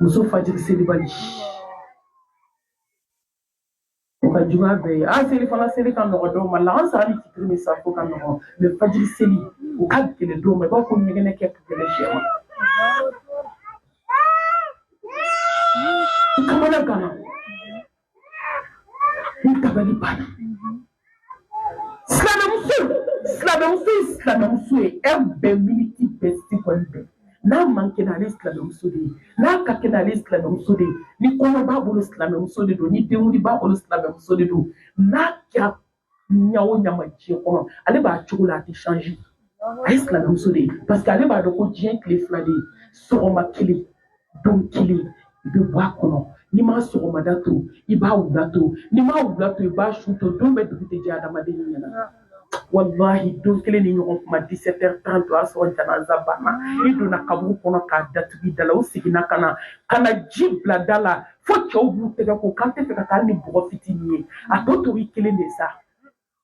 muso fajiri selibali o ka juguya bɛɛ ye an selifana seli ka nɔgɔ dɔw ma laansara ni fitiri ni safo ka nɔgɔ mais fajiri seli o ka gɛlɛ dɔw ma i b'a fɔ ɲɛgɛnɛ kɛ ka gɛlɛ sɛ ma kamana gana Ni dabali banna. Silamɛmuso, silamɛmuso, silamɛmuso ye heure bɛɛ miniti bɛɛ sekɔndi bɛɛ. N'a man kɛnɛ ale silamɛmuso de ye, n'a ka kɛnɛ ale silamɛmuso de ye, ni kɔɲɔ b'a bolo silamɛmuso de don, ni denkundi b'a bolo silamɛmuso de don, n'a kɛra ɲa o ɲa ma diɲɛ kɔnɔ ale b'a cogo la a tɛ changer a ye silamɛmuso de ye parce que ale b'a dɔn ko diɲɛ tile fila de ye sɔgɔma kelen don kelen i bɛ bɔ a kɔnɔ n'i m'a sɔgɔmada to i b'a wula to n'i m'a wula to i b'a su to don bɛɛ dugu tɛ jɛ adamaden ɲɛna walahi don kelen nin ɲɔgɔn tuma 17 heures 30 o y'a sɔrɔ janaza banna i donna kaburu kɔnɔ k'a datugu i da la u seginna ka na ka na ji bila da la fo cɛw b'u tɛgɛ ko k'an tɛ fɛ ka taa ni bɔgɔ fitinin ye a tɔ to i kelen de sa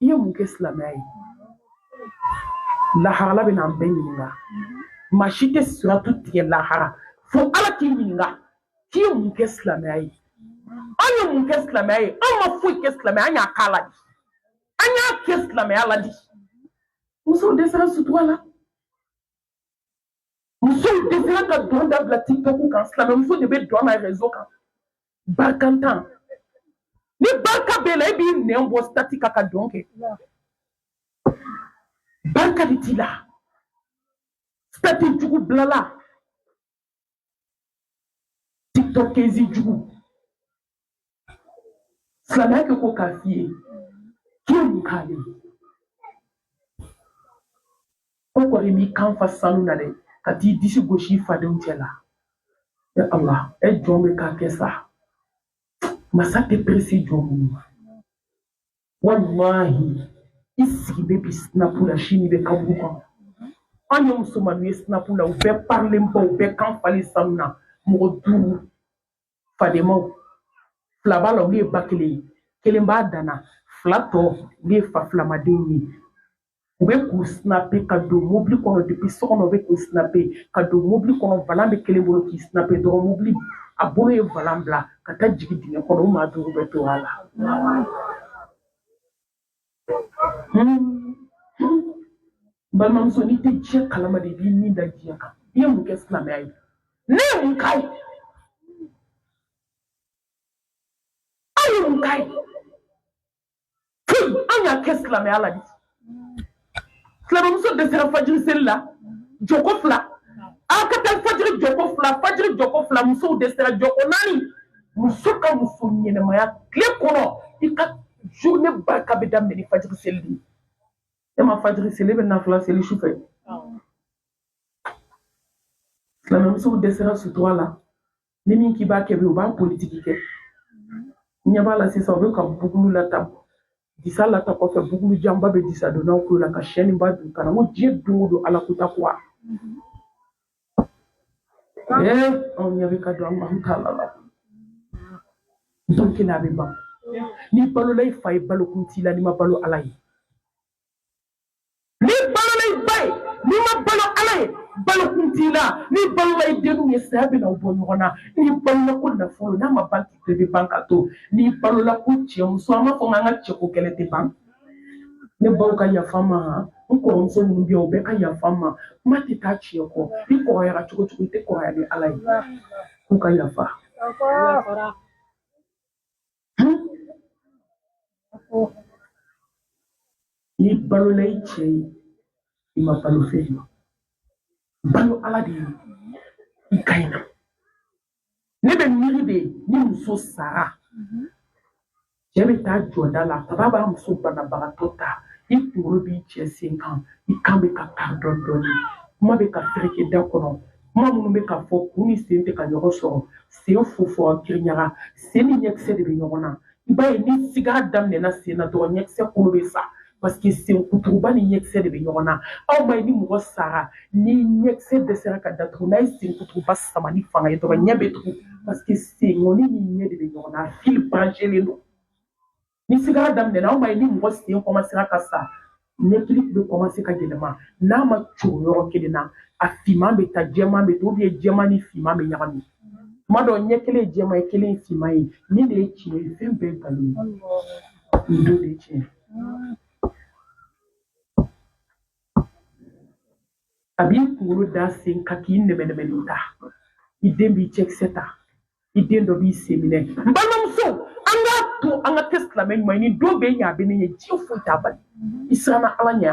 i ye mun kɛ silamɛya ye lahara ala bɛ n'an bɛɛ ɲininka maa si tɛ siratu tigɛ lahara fo ala k'i ɲininka k'i ye mun kɛ silamɛya ye an ye mun kɛ silamɛya ye an ma foyi kɛ silamɛya an y'a k'a la de an y'a kɛ silamɛya la de musow dɛsɛra sutura la musow dɛsɛra ka dɔn dabila tiktok kan silamɛmuso de bɛ dɔn na rezo kan barikantan ni barika b'e la e b'i nɛn bɔ sitati kan ka dɔn kɛ barika de t'i la sitati jugu bilala tiktokeuse jugu silamɛya kɛ ko k'a f'i ye k'i ye mun k'ale ye ko kɔni m'i kan fa sanu na dɛ ka t'i disi gosi i fadenw cɛ la e ala e jɔn bɛ k'a kɛ sa masa tɛ perese jɔn minnu ma walahi i sigilen bɛ bi sinapu la sini bɛ kaburu kɔnɔ an ye musomaninw ye sinapu la u bɛɛ parilenba u bɛɛ kan falen sanu na mɔgɔ duuru fadenmaw fila b'a la olu ye ba kelen ye kelen b'a danna fila tɔ olu ye fa filamadenw ye u bɛ k'u sinape ka don mobili kɔnɔ depi so kɔnɔ u bɛ k'u sinape ka don mobili kɔnɔ valan bɛ kelen bolo k'i sinape dɔrɔn mobili a bolo ye valan bila ka taa jigin dingɛ kɔnɔ u maa duuru bɛ to a la balimamuso n'i tɛ diɲɛ kalama de i b'i ni da diɲɛ kan i ye mun kɛ silamɛya ye ne ye mun k'a ye aw ye mun k'a ye an y'a kɛ silamɛya la de silamɛmuso dɛsɛra fajiri seli la jɔko fila a ka taa fajiri jɔko fila fajiri jɔko fila musow dɛsɛra jɔko naani muso ka muso ɲɛnɛmaya tile kɔnɔ i ka journée barika bɛ daminɛ ni fajiri seli de ye e ma fajiri seli e bɛ nafila seli su fɛ silamɛmusow dɛsɛra sutura la ni min k'i b'a kɛ bi o b'a politiki kɛ ɲɛ b'a la sisan o bɛ ka bugulu lata disa lata kɔfɛ bugulu janba bɛ disa donnaw kulo la ka sɛninba don kan na n ko diɲɛ don o don ala ko takuwa ee anw ɲɛ bɛ ka don an b'an ta la la don kelen a bɛ ban n'i balola i fa ye balokun t'i la n'i ma balo ala ye n'i balola i ba ye n'i ma balo ala ye balokun t'i la n'i balola i denw ye saya bɛna aw bɔ ɲɔgɔn na n'i balola ko nafolo n'a ma ban k'i to i bɛ ban k'a to n'i balola ko cɛ muso an b'a fɔ k'an ka cɛko kɛlɛ tɛ ban ne baw ka yafa n ma han n kɔrɔmuso minnu bɛ yan u bɛɛ ka yafa n ma kuma tɛ taa tiɲɛ kɔ i kɔrɔyara cogo cogo i tɛ kɔrɔya ni ala ye k'u ka yafa N'i balola i cɛ ye i ma balo fɛn ye balo ala de ye i ka ɲi na ne bɛ miiri de ni muso sara cɛ bɛ taa jɔ da la kaba b'a muso banabagatɔ ta i kunkolo b'i cɛ sen kan i kan bɛ ka kari dɔɔni dɔɔni kuma bɛ ka fereke da kɔnɔ kuma minnu bɛ ka fɔ kun ni sen tɛ ka ɲɔgɔn sɔrɔ sen fofo kiriɲaga sen ni ɲɛkisɛ de bɛ ɲɔgɔn na i b'a ye ni sigara daminɛna sen na dɔrɔn ɲɛkisɛ kolo bɛ sa paseke sen kuturuba ni ɲɛkisɛ de bɛ ɲɔgɔn na aw ma ye ni mɔgɔ sara ni ɲɛkisɛ dɛsɛra ka datugu n'a ye sen kuturuba sama ni fanga ye dɔrɔn ɲɛ bɛ tugu paseke senkɔni ni ɲɛ de bɛ ɲɔgɔn na a fili branchelen don ni sigara daminɛna aw ma ye ni mɔgɔ sen kɔmasera ka sa ɲɛkili bɛ kɔmase ka yɛlɛma n'a ma coron yɔrɔ kelen na a finman bɛ taa jɛman bɛ to ou bien jɛman ni finman bɛ ɲagami tuma dɔw ɲɛ kelen ye jɛman ye kelen ye finman ye nin de ye tiɲɛ ye fɛn bɛɛ nkalon ye nin don de ye tiɲɛ ye a b'i kunkolo da sen kan k'i nɛmɛnɛmɛlen ta i den b'i cɛkisɛ ta i den dɔ b'i sen minɛ n balimamuso an k'a to an ka kɛ silamɛ ɲuman ye nin don b'e ɲɛ a bɛ ne ɲɛ diɲɛ foyi t'a bali i siranna ala ɲɛ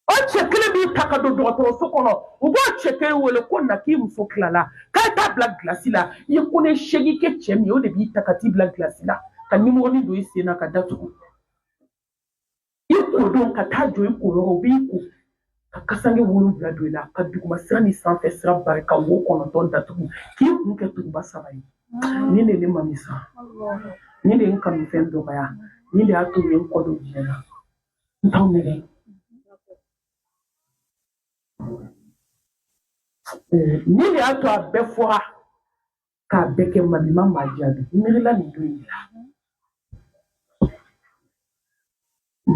o cɛ kelen b'i ta ka don dɔgɔtɔrɔso kɔnɔ u b'o cɛ kelen wele ko na k'i muso tilala k'a ye taa bila gilasi la i ye ko ne seegin kɛ cɛ min ye o de b'i ta ka t'i bila gilasi la ka nimɔrɔnin don i sen na ka datugu i ko don ka taa jɔ i koyɔrɔ u b'i ko ka kasange wolonwula don i la ka duguma sira ni sanfɛ sira bari ka wo kɔnɔntɔn datugu k'i kun kɛ tuguba saba ye nin de ne mami san nin de n kanufɛn dɔgɔya nin de y'a to ye n kɔ don diɲɛ na n t'aw nɛgɛn nin de y'a to a bɛɛ fɔra k'a bɛɛ kɛ mami ma maa jaabi n miirila nin don in la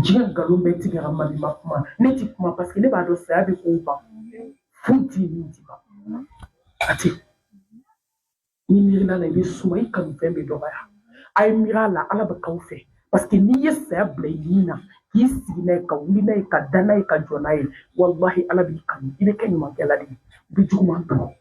diɲɛ nkalon bɛɛ tigɛra mami ma kuma ne ti kuma paseke ne b'a dɔn saya bɛ k'o ban foyi ti min ti ban a tɛ n'i miirila a la i bɛ suma i kanufɛn bɛ dɔgɔya a ye miiri a la ala bɛ k'aw fɛ paseke n'i ye saya bila i ni na k'i sigi n'a ye ka wuli n'a ye ka da n'a ye ka jɔ n'a ye walahi ala b'i kanu i bɛ kɛ ɲumankɛla de ye i bɛ juguman dɔn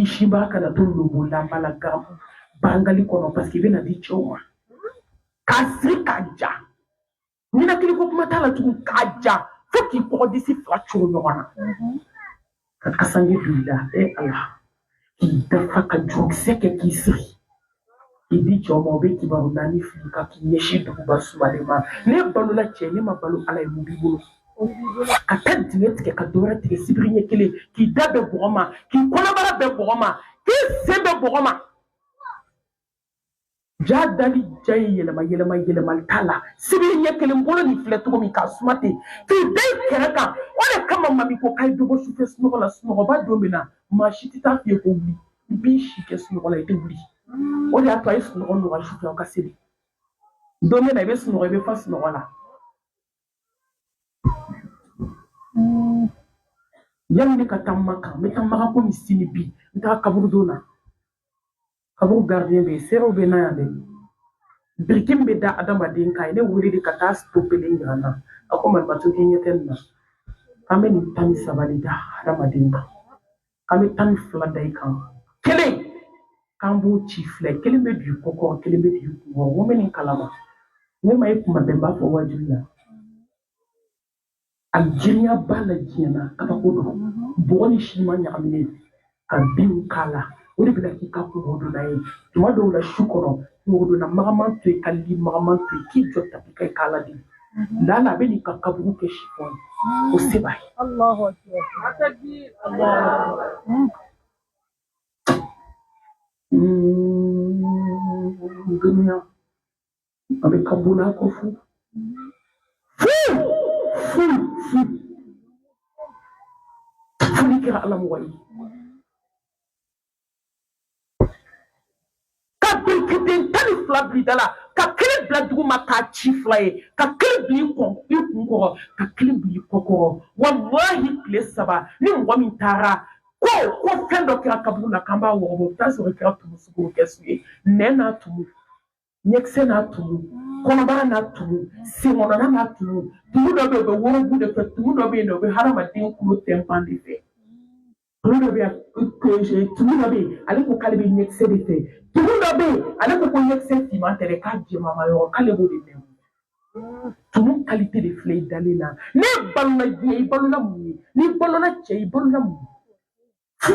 i si b'a kana to lobolama la gamu bangali kɔnɔ paseke i bɛna di cɛw ma k'a siri k'a ja ninakili ko kuma t'a la tugun k'a ja fo k'i kɔgɔdisi fila cogo ɲɔgɔn na ka kasange don i la e ala k'i dafa ka jurukisɛ kɛ k'i siri i di cɛw ma o bɛ kibaru naani fili i kan k'i ɲɛsin duguba sumalen ma ne balola cɛ ne ma balo ala ye mun b'i bolo ka taa dingɛ tigɛ ka dɔwɛrɛ tigɛ sibiri ɲɛ kelen k'i da bɛn bɔgɔ ma k'i kɔnɔbara bɛn bɔgɔ ma k'i sen bɛn bɔgɔ ma jaa dali jan ye yɛlɛma yɛlɛma yɛlɛma t'a la sibiri ɲɛ kelen bolo nin filɛ cogo min k'a suma ten k'i da i kɛrɛ kan o de kama mami ko k'a ye dɔ bɔ sufɛ sunɔgɔ la sunɔgɔba don min na maa si tɛ taa f'i ye ko wuli i b'i si kɛ sunɔgɔ la i tɛ wuli o de y'a to a ye sunɔgɔ nɔgɔya su fɛ aw ka seli don bɛ na i bɛ sunɔgɔ i bɛ fa sunɔgɔ la yanni ne ka taa makan n bɛ taa makan komi sini bi n taa kaburudo na kaburu gardien bɛ yen seerew bɛ na yan dɛ biriki min bɛ da adamaden kan a ye ne wele de ka taa to kelen jira n na a ko malimatu k'i ɲɛ tɛ nin na k'an bɛ nin tan ni saba de da adamaden kan k'an bɛ tan ni fila da i kan kelen k'an b'o ci fila kelen bɛ don i kɔ kɔrɔ kelen bɛ don i kun kɔrɔ wo bɛ nin kalama ne ma ye kuma bɛɛ n b'a fɔ wajibi la a girinya b'a la diɲɛ na kabako don bɔgɔ ni siman ɲagaminen ka binw k'a la o de bɛna k'i ka kunkɔrɔdonnan ye tuma dɔw la su kɔnɔ kunkɔrɔdonnan magaman to yen ka li magaman to yen k'i jɔ tapi kan i k'ala deli laala a bɛ n'i ka kaburu kɛ sifɔn ye o se b'a ye duniya a bɛ ka bula ko fo foli kɛra ala mɔgɔ ye ka birikiden tan ni fila bila da la ka kelen bila duguma k'a ci fila ye ka kelen bila i kun kɔrɔ ka kelen bila i kɔ kɔrɔ walahi tile saba ni mɔgɔ min taara ko ko fɛn dɔ kɛra kaburu la k'an b'a wɔgɔbɔ o t'a sɔrɔ i kɛra tumu sugu kɛsu ye nɛn n'a tumu ɲɛkisɛ n'a tumu kɔnɔbara n'a tumu senkɔnɔna n'a tumu tumu dɔ bɛ yen o bɛ worobu de fɛ tumu dɔ bɛ yen o bɛ hadamaden kulo tɛnpan de fɛ tumu dɔ bɛ yen tumu dɔ bɛ yen ale ko k'ale bɛ ɲɛkisɛ de fɛ tumu dɔ bɛ yen ale ko ko ɲɛkisɛ finman tɛ dɛ k'a jɛmanma yɔrɔ k'ale b'o de min tumu kalite de filɛ i dalen na n'i balola diɲɛ i balola mun ye n'i balola cɛ i balola mun ye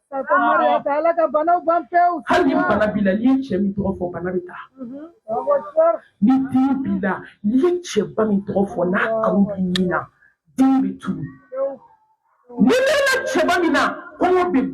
hali ni bana b'i la n'i ye cɛ min tɔgɔ fɔ bana bɛ taa ni den b'i la n'i ye cɛba min tɔgɔ fɔ n'a kanu b'i nin na den bɛ tunu n'i dɛnna cɛba min na kɔngɔ bɛ